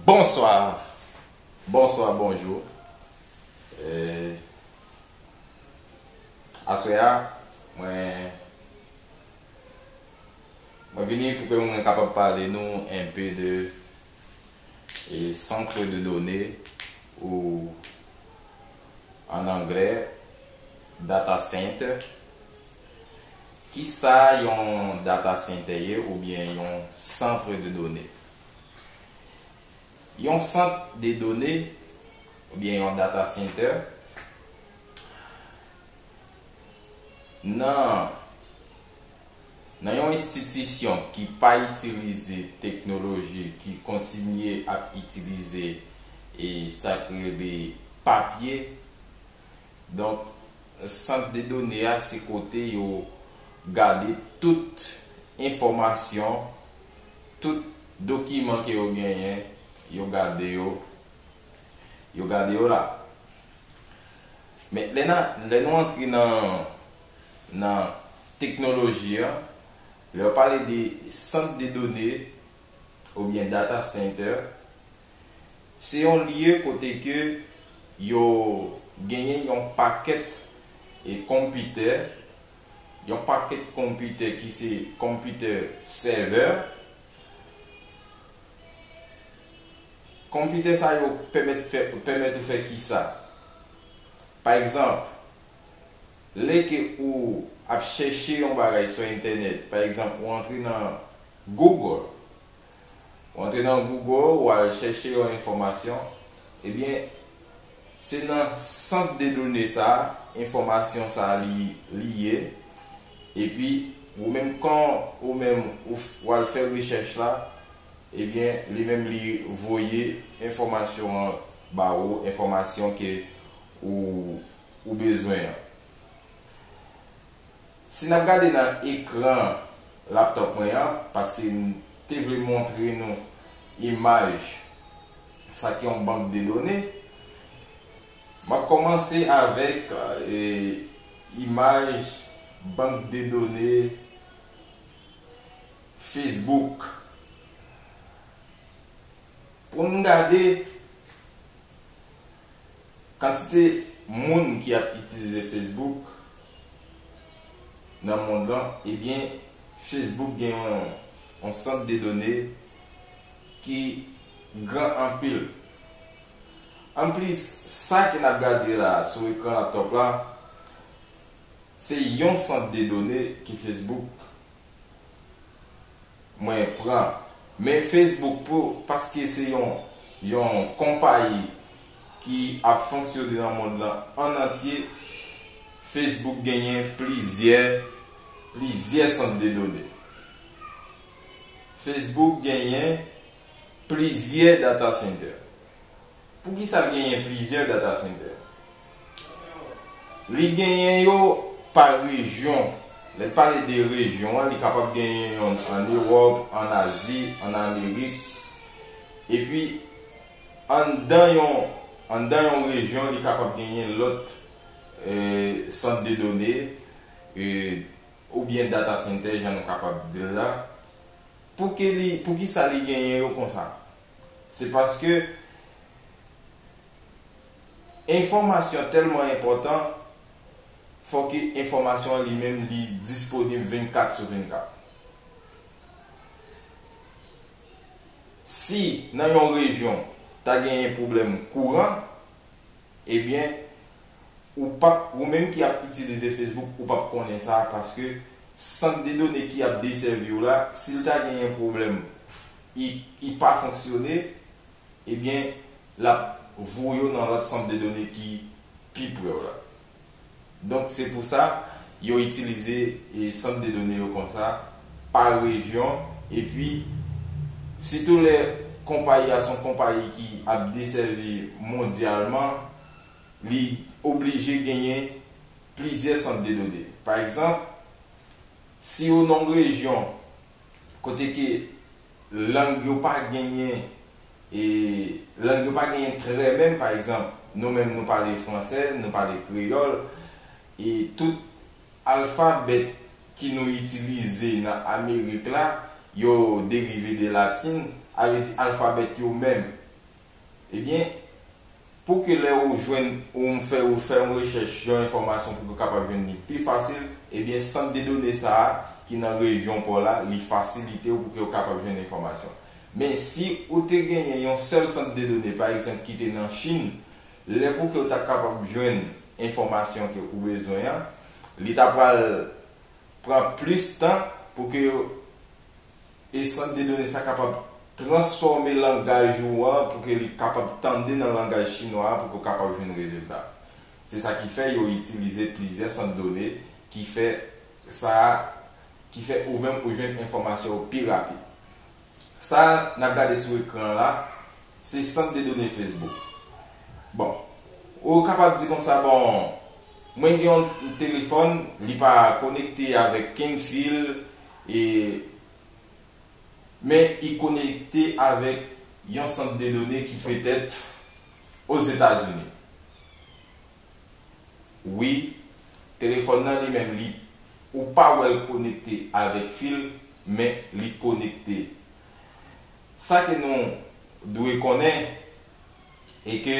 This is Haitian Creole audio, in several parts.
Bonswa Bonswa bonjou Aswè a mwen Mwen vini pou ke mwen kapab pale nou enpe de Centre de données ou an anglè, data center. Kisa yon data center ye oubyen yon centre de données? Yon sant de done oubyen yon data center nan. Nan yon enstitisyon ki pa itilize teknoloji ki kontinye ap itilize e sak rele papye donk sant de done a se kote yo gade tout enfòmasyon tout dokiman ke yo genyen yo gade yo yo gade yo la. Men lè na lè nou antre nan nan teknoloji an, lè yo pale de sant de done oubyen data center, se yon lye kote ke yo genyen yon pakèt e konpitè, yon pakèt konpitè ki se konpitè sèvè, Konpitè sa yo pèmèt fè pèmèt ou fè kisa? Pa egzanp, lè ke ou ap chèche yon bagay sou entènèt, pa egzanp ou antre nan Google, ou antre nan Google ou al chèche yon enfòmasyon, ebyen se nan sant de done sa enfòmasyon sa li li ye, epi ou menm kan ou menm ou wal fè rechèch la ebyen li menm li voye enfòmasyon an ba ou enfòmasyon ke ou ou bezwen an si nap gade nan ekran laptop mwen an paske m te vle montre nou imaj sa ki yon bank de done. Map kòmanse avèk imaj bank de done Facebook pou n gade kantite moun ki ap itilize Facebook nan mond lan ebyen Facebook gen yon sant de done ki gran anpil. Anplis, sa ke n ap gade la a sou ekran laptop la, se yon sant de done ke Facebook mwen pran. Men Facebook pou, paske se yon yon konpayi ki ap fonksyone nan mond lan an antye, Facebook genyen plizyè plizyè sant de done. Facebook genyen Plizyè data center. Poukisa l genyen plizyè data center? Li genyen yo pa rejyon. Lè l pale de rejyon an, li kapab genyen yonn an Ewòp, an Azi, an Amerik. Epi, anndan yon anndan yon rejyon, li kapab genyen lòt sant de done oubyen data center jan nou kapab di l la. Pouki li poukisa li genyen yo konsa? Se paske enfòmasyon tèlman enpòtan fò ke enfòmasyon an li menm li disponib 24 sou 24. Si nan yon rejyon ta genyen pwoblèm kouran Ebyen ou pap ou menm ki ap itilize Facebook ou pap konnen sa paske sant de done ki ap desèviw la sil ta gen yon pwoblèm i i pa fonksyone ebyen lap voyew nan lòt sant de done ki pi prew la. Donk se pou sa yo itilize sant de done yo konsa pa rejyon epi sitou lè konpayi a se yon konpayi ki ap desèvi mondyalman li oblije genyen plizyè sant de done. Pa egzanp si ou nan yon rejyon kote ke lang yo pa genyen e lang yo pa genyen trè menm pa egzanp nou menm nou pale fransè nou pale kreyòl e tout alfabèt ki nou itilize nan amerik la yo derive de latin a vle di alfabèt yo menm Ebyen, pou ke lè ou jwenn ou m fè ou fè yon rechèch yon enfòmasyon pou ke w kapab jwenn li pi fasil, ebyen sant de done sa a ki nan rejyon pa w la, li fasilite w pou ke w kapab jwenn enfòmasyon. Men, si ou te genyen yon sèl sant de done, pa egzanp, ki te nan Chin, lè pou ke w ta kapab jwenn enfòmasyon ke ou bezwen an, li ta pral pran plis tan pou ke e sant de done sa kapab transfòme langaj ou an pou ke li kapab tande nan langaj chinwa a pou ke w kapab jwenn rezilta. Se sa ki fè yo itilize plizyè sant done ki fè sa a, ki fè ou menm ou jwenn enfòmasyon yo pi rapid. Sa a n ap gade sou ekran an la, se sant de done Facebook. Bon, ou kapab di konsa, bon, mwen gen yon telefòn, li pa konekte avèk kenn fil, E Men i konekte avèk yon sant de done ki petèt Ozetazini. Wi, telefòn nan li menm li ou pa wè l konekte avèk fil, men li konekte. Sa ke nou dwe konnen e ke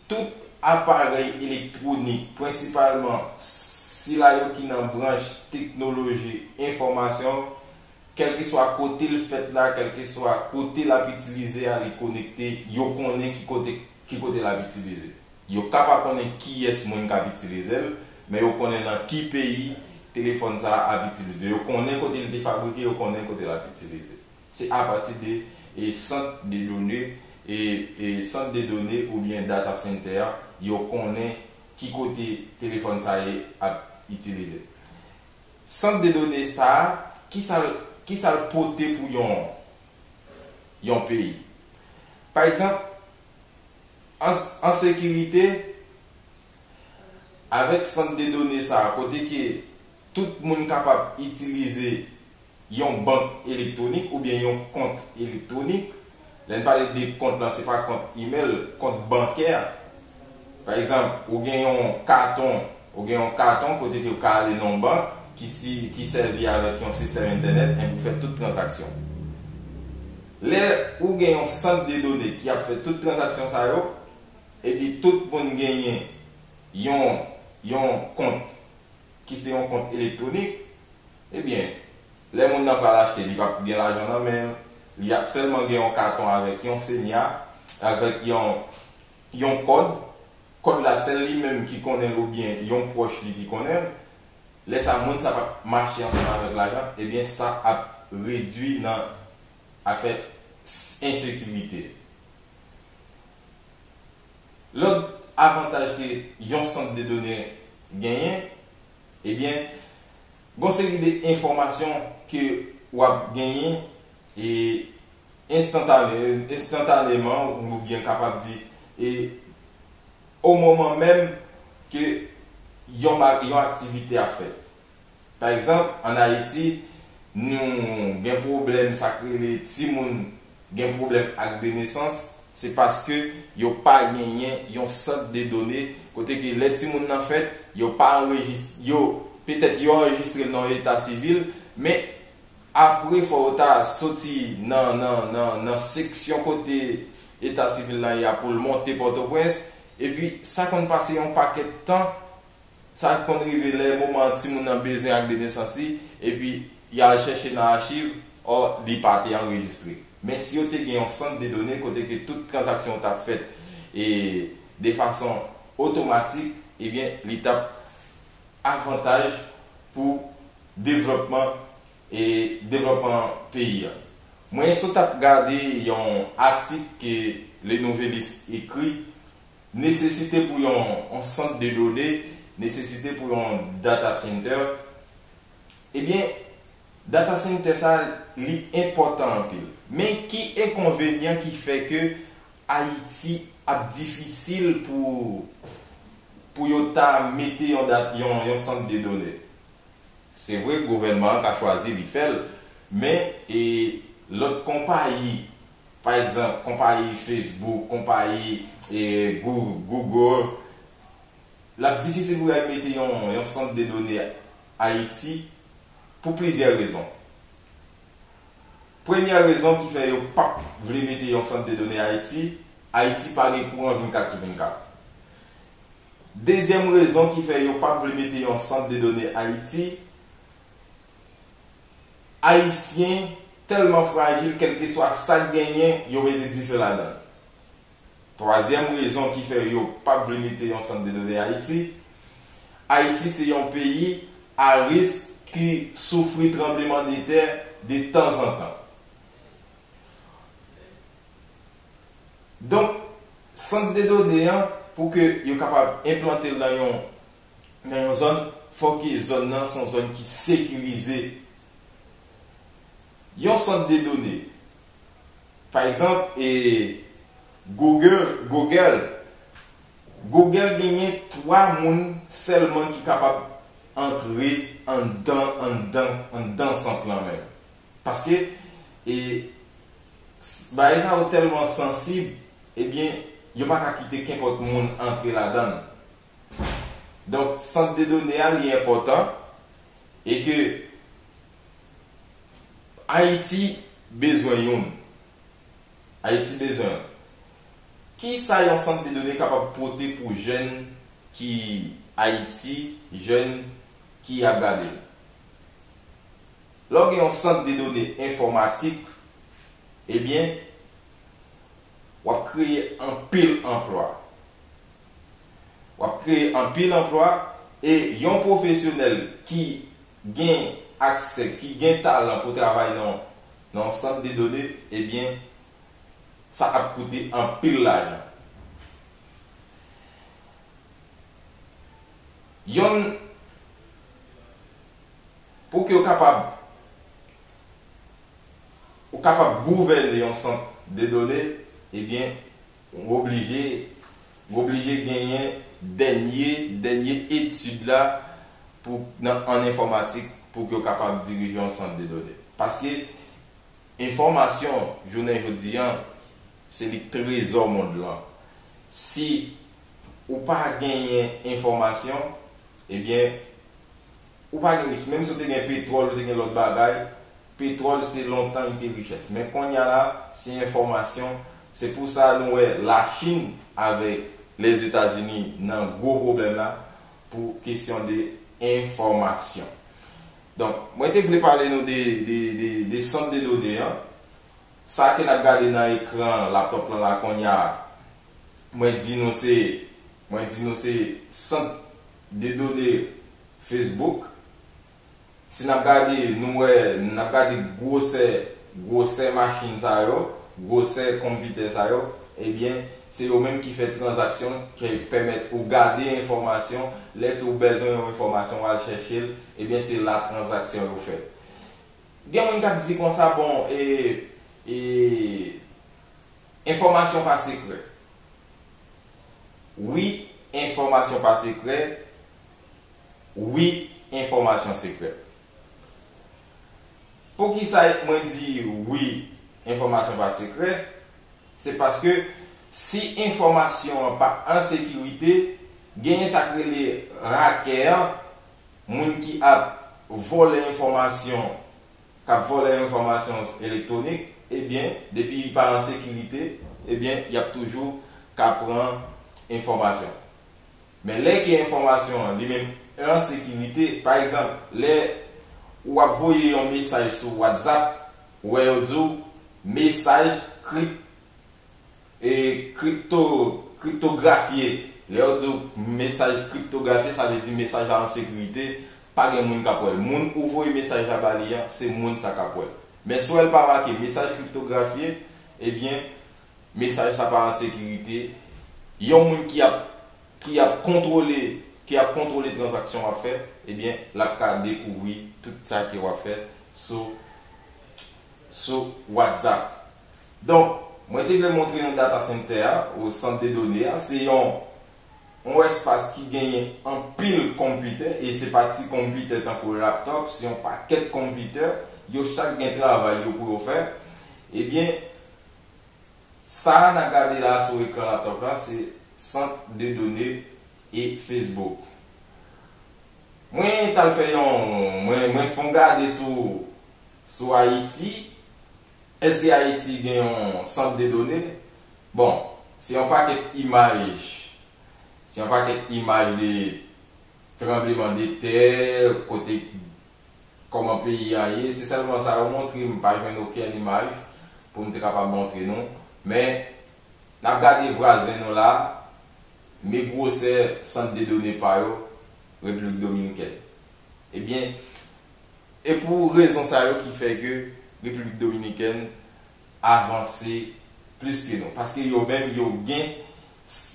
Tout aparèy elektwonik, prensipalman sila yo ki nan branch teknoloji enfòmasyon, kèlkeswa kote l fèt la, kèlkeswa kote l ap itilize a, li konekte, yo konnen ki kote ki kote l ap itilize. Yo ka pa konnen kiyès moun k ap itilize l, men yo konnen nan ki peyi telefòn sa a ap itilize. Yo konnen kote li te fabrike, yo konnen kote l ap itilize. Se apati de sant de done, sant de done oubyen data center a yo konnen ki kote telefòn sa ye ap itilize. Sant de done sa a, ki sa l pote pou yon peyi? Pa egzanp, an sekirite, avèk sant de done sa a kote ke tout moun kapab itilize, yon bank elektwonik oubyen yon kont elektwonik. Lè n pale de kont lan se pa kont imèl, kont bankè. Pa egzanp, ou gen yon katon, ou gen yon katon kote ke ou ka ale nan yon bank ki si ki sèvi avèk yon sistèm entènèt enpi ou fè tout tranzaksyon. Lè ou gen yon sant de done ki ap fè tout tranzaksyon sa yo epi tout moun genyen yon yon kont ki se yon kont elektwonik, Ebyen, lè moun nan pral achte li pap gen lajan nan men l, li ap sèlman gen yon katon avèk yon senya, avèk yon yon kòd, kòd la sèl li menm ki konnen l oubyen yon pwòch li ki konnen l, lè sa moun sa pap mache ansanm avèk lajan, ebyen sa ap redwi nan afè ensekirite. Lòt avantaj ke yon sant de done genyen, ebyen gon seri de enfòmasyon ke wap genyen e enstantane, enstantaneman ou byen kapab di e o moman menm ke yon ba, yon aktivite ap fèt. Pa egzanp, an Ayiti, nou gen pwoblèm sa k rele timoun gen pwoblèm ak de nesans, se paske yo pa genyen yon sant de done kote ke lè timoun nan fèt, yo pa anrejis, yo, petèt yo anrejistre l nan yon eta sivil, men apre fò yo ta soti nan, nan, nan, nan seksyon kote eta sivil lan ye a pou l monte Pòtoprens, epi sa konn pase yon pakèt tan. Sa ki konn rive lè moman an timoun nan bezwen ak de nesans li, epi y al chèche nan achiv, ò, li pa te anrejistre. Men si yo te gen yon sant de done kote ke tout tranzaksyon t ap fèt e de fason otomatik, ebyen li t ap avantaj pou devlòpman e devlòpman peyi a. Mwen sot ap gade yon atik ke Le Nouvelliste ekri Nesesite pou yon sant de done, nesesite pou yon data center, ebyen data center sa li enpòtan anpil. Men ki enkonvenyan ki fè ke Ayiti ap difisil pou pou yo ta mete yon da yon sant de done? Se vre gouvènman an ka chwazi li fè l, men e lòt konpayi Pa egzanp, konpayi Facebook, konpayi Google, l ap difisil pou yo al mete yon sant de done Ayiti pou plizyè rezon. Premyè rezon ki fè yo pap vle mete yon sant de done Ayiti, Ayiti pa gen kouran 24 sou 24. Dezyèm rezon ki fè yo pap vle mete yon sant de done Ayiti, Ayisyen tèlman frajil kèlkeswa sak genyen yo mete dife ladan. Twazyèm rezon ki fè yo pap vle mete yon sant de done Ayiti, Ayiti se yon peyi a risk ki soufri tranbleman de tè de tanzantan. Donk sant de done an pou ke yo kapab enplantel nan yon nan yon zòn, fòk zòn nan se yon zòn ki sekirize. Yon sant de done, pa egzanp, Google, Google genyen 3 moun sèlman ki kapab antre anndan, anndan, anndan sant lan menm. Paske bagay sa yo tèlman sansib, ebyen yo pa ka kite kenpòt moun antre ladan l. Donk sant de done a li enpòtan e ke Ayiti bezwen youn. Ayiti bezwen youn. Kisa yon sant de done kapab pote pou jèn ki Ayiti, jèn ki ap gade l? Lè w gen yon sant de done enfòmatik, ebyen wap kreye anpil anplwa. Wap kreye anpil anplwa e yon pwofesyonèl ki gen aksè, ki gen talan pou travay nan yon sant de done, ebyen sa ap koute anpil lajan. Yon pou ke yo kapab. Ou kapab gouvène yon sant de done, ebyen ou oblije ou oblije genyen dènye dènye etid la pou nan an enfòmatik pou ke w kapab dirije yon sant de done. Paske enfòmasyon jounen jodi an se li k trezò mond lan. Si ou pa genyen enfòmasyon, ebyen ou pa gen risk. Menm si w te gen petwòl, ou te gen lòt bagay, Petrol se lontan li te richès men konnya la se enfòmasyon se pou sa nou wè la chine avèk lèzetazini nan gwo pwoblèm la pou kesyon de enfòmasyon donk mwen te vle pale nou de de sant de done an sa ke nap gade nan ekran laptop lan la konnya mwen di nou se mwen di nou se sant de done facebook. si n ap gade nou wè n ap gade gwosè gwosè machin sa yo, gwosè konpitè sa yo, ebyen se yo menm ki fè tranzaksyon ki pèmèt ou gade enfòmasyon, lè ke w bèzwen yon enfòmasyon w al chèche l, ebyen se la tranzaksyon yo fèt. Gen moun k ap di konsa bon e e enfòmasyon pa sekrè. Wi enfòmasyon pa sekrè, wi enfòmasyon sekrè. Poukisa mwen di wi enfòmasyon pa sekrè, se paske si enfòmasyon an pa an sekirite, genyen sa k rele rakè an, moun ki ap vòlè enfòmasyon, k ap vòlè enfòmasyon elektwonik, ebyen depi li pa an sekirite, ebyen y ap toujou ka pran enfòmasyon. Men lè ke enfòmasyon an li menm an sekirite, pa egzanp lè ou ap voye yon mesaj sou WhatsApp, ou wè yo di w mesaj krip e kripto kriptografye, lè yo di w mesaj kriptografye sa vle di mesaj la an sekirite, pa gen moun kap wè l. Moun ou voye mesaj la ba li an, se moun sa kap wè l. Men si w wè l pa make mesaj kriptografye, ebyen Mesaj sa pa an sekirite. Yon moun ki ap ki ap kontwole ki ap kontwole tranzaksyon wap fè ebyen lap ka dekouvri tout sa ke wap fè sou sou WhatsApp. Donk mwen te vle montre nou data center a ou sant de done a se yon yon espas ki genyen anpil konpitè e se pa ti konpitè tankou laptop se yon pakèt konpitè yo chak gen travay yo pou yo fè ebyen Sa nap gade la sou ekran laptop la se sant de done e Facebook. Mwen tal fè yon mwen mwen fon gade sou sou Haiti eske Haiti gen yon sant de done bon se yon pakèt imaj se yon pakèt imaj de tranbleman de tè kote kòman peyi a ye, se sèlman sa yo montre, m pa jwenn okenn imaj pou m te kapab montre nou, men n ap gade vwazen nou la, men gwosè sant de done pa yo, Repiblik Dominikèn. Ebyen, e pou rezon sa yo ki fè ke Repiblik Dominikèn avanse plis ke nou, paske yo menm yo gen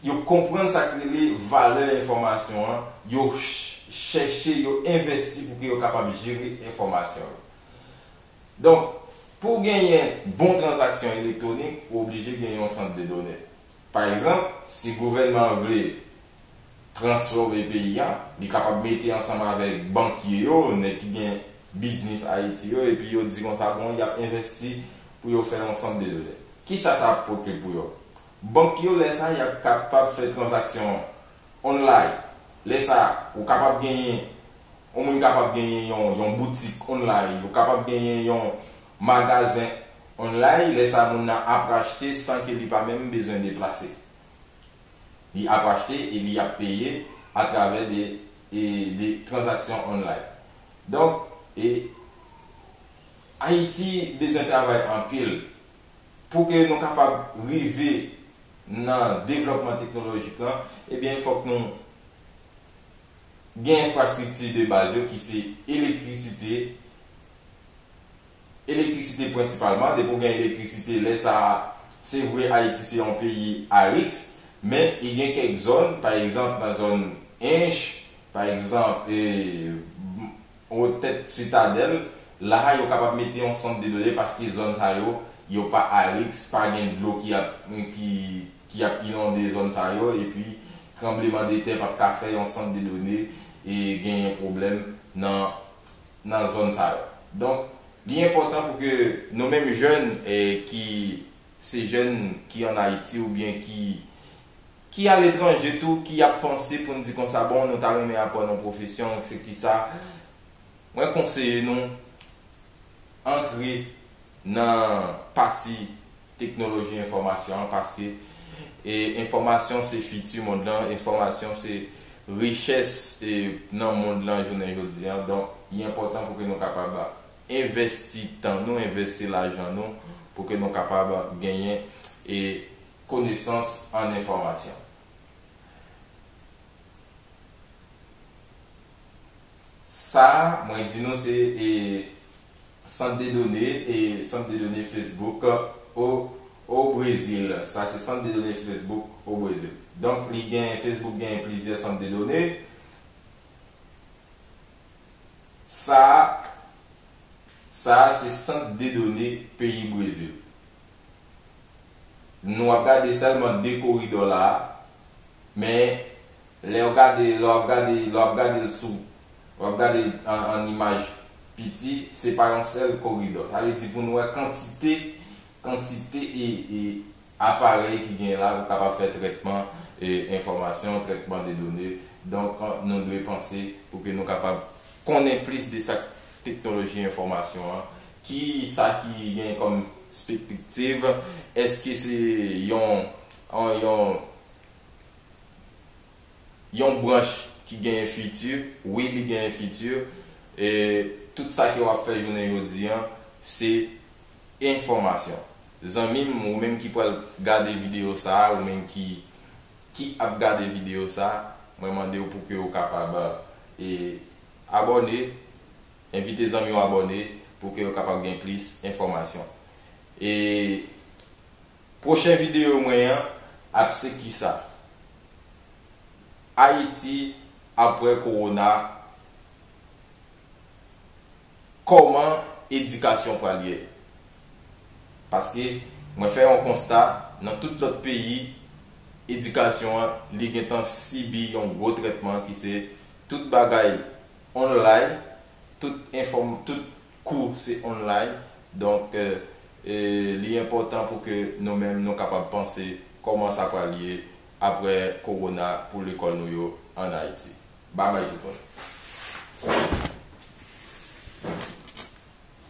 Yo konprann sa k rele valè enfòmasyon an, yo chèche, yo envèsti pou ke yo kapab jere enfòmasyon yo. Donk, pou genyen bon tranzaksyon elektwonik, ou oblije gen yon sant de done. Pa egzanp, si gouvènman an vle transfòme peyi a, li kapab mete ansanm avèk bankye yo, nèg ki gen biznis Ayiti yo, epi yo di konsa, bon, y ap envèsti pou yo fè yon sant de done. Kisa sa ap pote pou yo? Bank yo lè sa y ap kapab fè tranzaksyon an online. Lè sa a, ou kapab genyen yon moun kapab genyen yon yon boutik online, ou kapab genyen yon magazen online, lè sa a moun nan ap achte san ke li pa menm bezwen deplase. Li ap achte e li ap peye atravè de e de tranzaksyon online. Donk e Ayiti bezwen travay anpil pou ke nou kapab rive nan devlòpman teknolojik lan, ebyen fòk nou gen enfrastrikti de baz yo ki se elektrisite, elektrisite prensipalman, depi w gen elektrisite lè sa a, se vre Ayiti se yon peyi ariks, men li gen kèk zòn, pa egzanp nan zòn Ench, pa egzanp Otèt Sitadèl, la a yo kapab mete yon sant de done paske zòn sa yo, yo pa a riks, pa gen dlo ki ap ki ki ap inonde zòn sa yo epi tranbleman de tè pap ka fè yon sant de done e genyen pwoblèm nan nan zòn sa yo. Donk li enpòtan pou ke nou menm jèn e ki se jèn ki an Ayiti oubyen ki Ki aletranje tou ki ap panse pou n di konsa bon nou ta renmen aprann yon pwofesyon eksekisa mwen konseye nou antre nan pati teknoloji enfòmasyon an paske enfòmasyon se fiti mond lan enfòmasyon se richès nan mond lan jounen jodi an donk li enpòtan pou ke nou kapab envèsti tan nou envèsti lajan nou pou ke nou kapab genyen konesans an enfòmasyon. Sa a mwen di nou se e sant de done e sant de done Facebook o o Brezil. Sa se sant de done Facebook o Brezil. Donk li gen Facebook gen plizyè sant de done. Sa a sa a se sant de done peyi Brezil. Nou ap gade sèlman 2 koridò la a, men lè ou gade, lè w ap gade, lè w ap gade l sou, w ap gade l an imaj piti, se pa yon sèl koridò. Sa vle di pou nou wè kantite, kantite e aparèy ki genyen la pou kapab fè trètman enfòmasyon, trètman de done. Donk nou dwe panse pou ke nou kapab konnen plis de sa k Teknoloji enfòmasyon an, ki sa ki gen kòm spèkpktiv? Èske se yon yon yon branch ki genyen fiti? Wi li genyen fiti. Tout sa ke w ap fè jounen jodi an se enfòmasyon. Zanmi m, ou menm ki pral gade videyo sa a, ou menm ki ki ap gade videyo sa a, mwen mande w pou ke ou kapab e Abòne, Envite zanmi w abòne pou ke yo kapab gen plis enfòmasyon. E Pwochen videyo mwen an ap se kisa Ayiti apre Kowona, Kòman edikasyon pral ye? Paske mwen fè yon konsta nan tout lòt peyi edikasyon an li gentan sibi yon gwo trètman ki se Tout bagay online, tout enfom tout kou se online donk li enpotan pou ke nou menm nou kapab panse koman sa pral ye apre korona pou lekol nou yo an Ayiti. Babay tout moun.